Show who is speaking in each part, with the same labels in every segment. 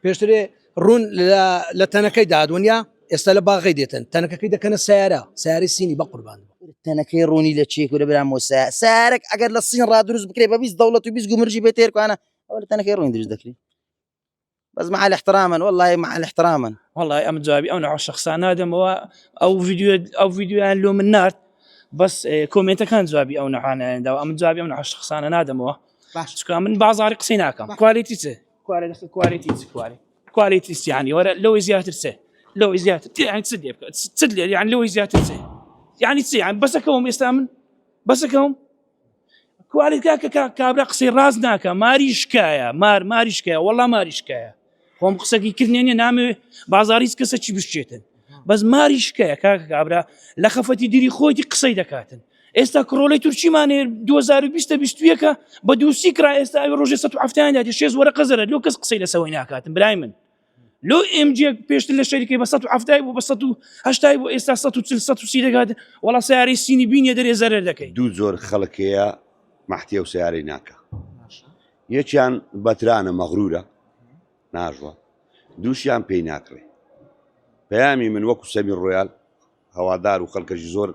Speaker 1: پێشترێ ڕوون لە تەنەکەی دادونیا ئێستا لە باغی دێتن تەنەکەکەی دەکەنە سیارە سیاری سینی بە قوربان تەنەکەی ڕوونی
Speaker 2: لە چێک و لە برام وسە سارێک ئەگەر لە سین ڕادروست بکرێ بە بیست دەوڵەت و بیست گومرجی بێ تێرکانە ئەوە لە تەنەکەی ڕوون دروست دەکرێت بەس مع الاحتراما والله مع الاحتراما والله ئەم جوابی ئەو
Speaker 3: ناو شخصان نادەمەوە ئەو ویددیو ئەو ویددیویان لۆ من نرد بەس کۆمنتەکان جوابی ئەو نەحانەیەدا ئەم جوابی ئەم ناو شخصانە نادەمەوە باش من بازاری قسەی ناکەم کوالیتی چ کوارێ دەخە کوالێتی چ کوارێ کوالێتی سیانی وەرە لەوەی زیاتر سێ لەوەی زیاتر تیان چ لێ بکات چ لێ یان لەوەی زیاتر سێ یعنی چی یان بەسەکەەوەم ئێستا من بەسەکەم کوالێت کاکە کابرا قسەی ڕاز ناکە ماری شکایە مار ماری شکایە وەڵا ماری شکایە خۆم قسەکی کردێنێ نامەوێ بازاریز کەسە چی بشێتن بەس ماری شکەیە کاک کابرا لە خەفەتی دیری خۆیتی قسەی دەکاتن ئێستا کڕۆلی تورکیمانێ 2020ەکە بە دووسی کرا ئێستا ئەوی ڕۆژێ 1970یاندا شێز وەرە قەزەرە لۆ کەس قسەی لەسەوەی ناکاتن برای من لۆ ئمجێک پێشتر لە شەریکەی بە 1970 بۆ بە 1970 بۆ ئێستا 1940 دەگات وڵا سیارەی سینی بینە دەرێ زەرەر دەکەیت دوو زۆر خەڵکەیە
Speaker 4: مەحتیە و سیارەی ناکە یەکیان بەترانە مەغرورە ناژوا دووشیان پێی ناکڕێ پەیامی من وەکو سەمیر ڕۆیال هەوادار و خەلکەشی زۆر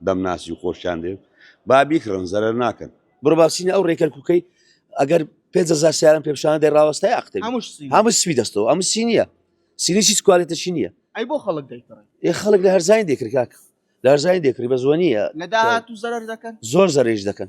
Speaker 4: دەمناسی و خۆشیان دەوێت با بیکڕن زەرەر ناکەن. بڕۆ با بچینە ئەو ڕێ
Speaker 5: کەرکوکەی ئەگەر پێنج هەزار سیارەم پێ بشانە دەی ڕاوەستای ئەقتەوی هەمووش سینە هەموو سپی دەستەوە ئەمە سی نییە سینی هیچ کوالێتەشی نییە ئەی بۆ خەڵک دەیکڕن
Speaker 6: ئێ خەڵک لە هەرزانی
Speaker 5: دێکرد کاکە لە هەرزانی دێکری بە زۆنیە لە داهاتوو زەرەر
Speaker 6: دەکەن زۆر زەرێژ دەکەن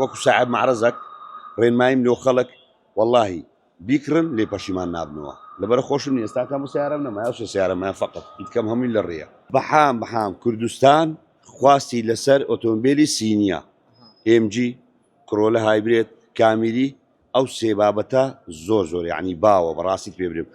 Speaker 2: وەکو ساعەب
Speaker 4: مەعرەزەک ڕێنماییم لۆ خەڵک وەڵاهی بیکڕن لێ پەشیمان نابنەوە لەبەرە خۆشم نیە ئێستا کەمە سەیارەم نەما یاو سێ سەیارەم هەیە فەقەت ئیتکەم هەمووی لە ڕێیە. بەحام بەحام کوردستان خواستی لەسەر ئۆتۆمبێلی سینیە ئێم جی کرۆلە هایبرێد کامیری ئەو سێ بابەتە زۆر زۆر یەعنی باوە بەڕاستیت پێ برێم.